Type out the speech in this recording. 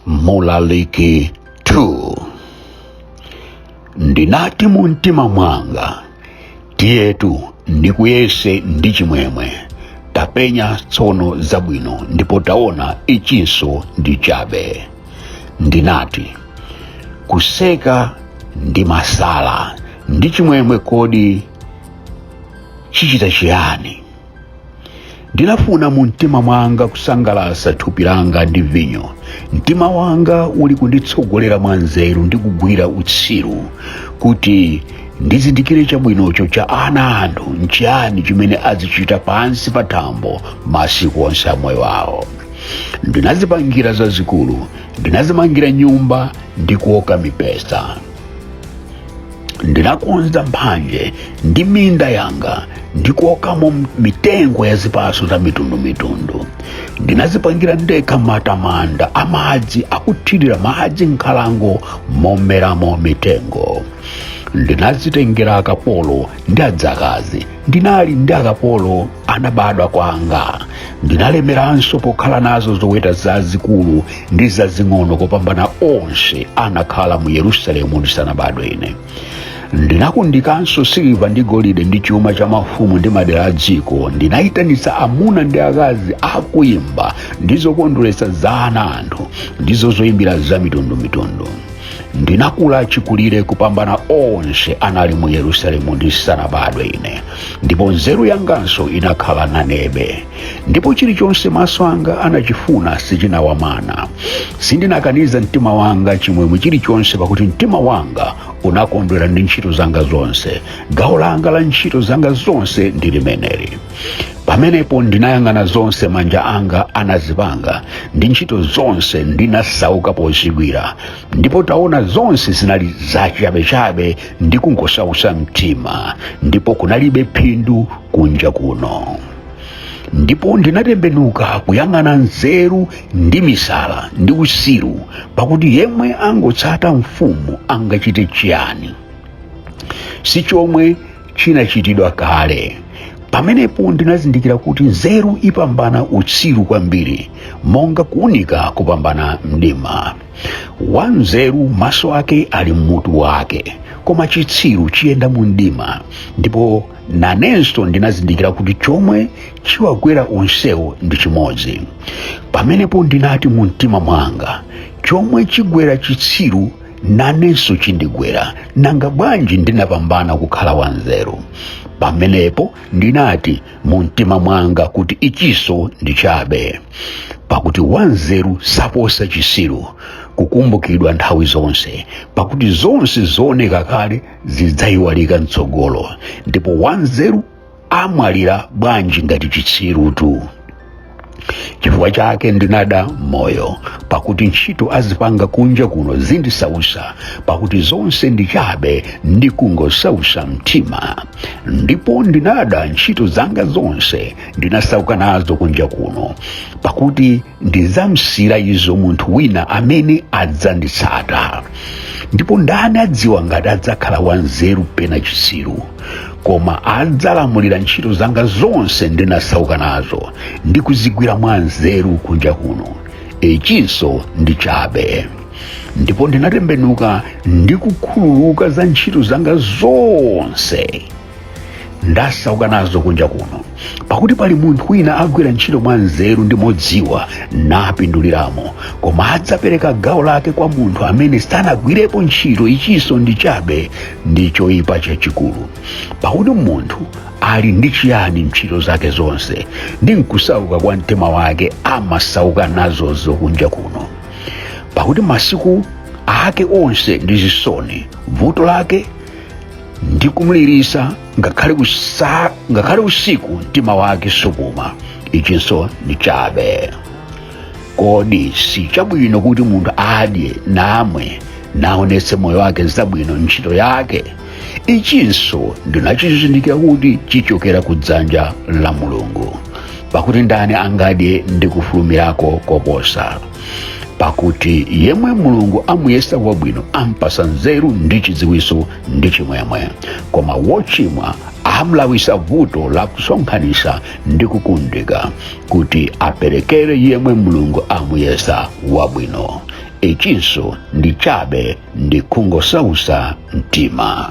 mlaliki 2 ndinati mu mtima mwanga tiyetu ndikuyese ndi chimwemwe tapenya tsono zabwino ndipo taona ichinso ndi chabe ndinati kuseka ndi misala ndi chimwemwe kodi chichita chiyani ndinafuna mu mtima mwanga kusangalatsa thupi langa ndi vinyo mtima wanga uli kunditsogolera mwa nzeru ndi kugwira utsiru kuti ndizindikire chabwinocho cha ana anthu nchiyani chimene azichita pansi pa thambo masiku onse a moyo wawo ndinadzipangira zazikulu ndinadzimangira nyumba ndi kuoka mipesa ndinakonza mphanje ndi minda yanga ndi kuokamo mitengo ya zipaso za mitundumitundu ndinadzipangira ndekha matamanda a madzi akuthirira madzi nkhalango momeramo mitengo ndinadzitengera akapolo ndi adzakazi ndinali ndi akapolo anabadwa kwanga ndinalemeranso pokhala nazo zoweta zazikulu ndi zazing'ono kopambana onse anakhala mu yerusalemu ndisanabadwe ine ndinakundikanso siliva ndi golide ndi chuma cha mafumu ndi madera a dziko ndinayitanitsa amuna ndi akazi akuimba ndi zokondweretsa za ana anthu ndizo zoyimbira za mitundumitundu ndinakula chikulire kupambana onse anali mu yerusalemu ndisanabadwe ine ndipo nzeru yanganso inakhala nanebe ndipo chilichonse maso anga anachifuna sindinawamana sindinakaniza mtima wanga chimwemwe chilichonse pakuti mtima wanga unakondwera ndi ntchito zanga zonse gawo langa la ntchito zanga zonse ndi limeneli pamenepo ndinayang'ana zonse manja anga anazipanga ndi ntchito zonse ndinasauka pozigwira ndipo taona zonse zinali zachabechabe ndi kungosausa mtima ndipo kunalibe phindu kunja kuno ndipo ndinatembenuka kuyang'ana nzeru ndi misala ndi utsiru pakuti yemwe angotsata mfumu angachite chiyani si chomwe chinachitidwa kale pamenepo ndinazindikira kuti nzeru ipambana utsiru kwambiri monga kuunika kupambana mdima wanzeru maso ake ali mmutu wake koma chitsiru chiyenda mu mdima ndipo nanenso ndinazindikira kuti chomwe chiwagwera onsewo ndi chimodzi pamenepo ndinati mu mtima mwanga chomwe chigwera chitsiru nanenso chindigwera nanga bwanji ndinapambana kukhala wanzeru pamenepo ndinati mu mtima mwanga kuti ichinso ndi chabe pakuti wanzeru saposa chitsiru kukumbukidwa nthawi zonse pakuti zonse zooneka kale zidzayiwalika mtsogolo ndipo wanzeru amwalira bwanji ngati chitsirutu chifukwa chake ndinada moyo pakuti ntchito azipanga kunja kuno zindisausa pakuti zonse ndi chabe ndi kungosausa mtima ndipo ndinada ntchito zanga zonse ndinasauka nazo kunja kuno pakuti ndidzamusiyira izo munthu wina amene adzanditsata ndipo ndani adziwa ngati adzakhala wanzeru pena chitsiru koma adzalamulira ntchito zanga zonse ndinasauka nazo ndi kuzigwira mwa nzeru kunja kuno ichinso ndi chabe ndipo ndinatembenuka ndi kukhululuka za ntchito zanga zonse ndasauka nazo kunja kuno pakuti pali munthu wina agwira ntchito mwa nzeru ndi modziwa napinduliramo koma adzapereka gawo lake kwa munthu amene sanagwirepo ntchito ichinso ndi chabe ndi choyipa chachikulu pakuti munthu ali ndi chiyani ntchito zake zonse ndi nkusauka kwa mtima wake amasauka nazozo kunja kuno pakuti masiku ake onse ndi zisoni vuto lake ndi kumulirisa ngakhale usiku mtima wake supuma ichinso ndi chabe kodi si chabwino kuti munthu adye namwe naonetse moyo wake zabwino ntchito yake ichinso ndinachizindikira kuti chichokera ku dzanja la mulungu pakuti ndani angadye ndi kufulumirako koposa pakuti yemwe mulungu amuyesa wabwino ampasa nzeru ndi chidziwiso ndi chimwemwe koma wochimwa amlawisa vuto la kusonkhanisa ndi kukundika kuti aperekere yemwe mulungu amuyesa wabwino ichinso ndi chabe ndi kungosausa mtima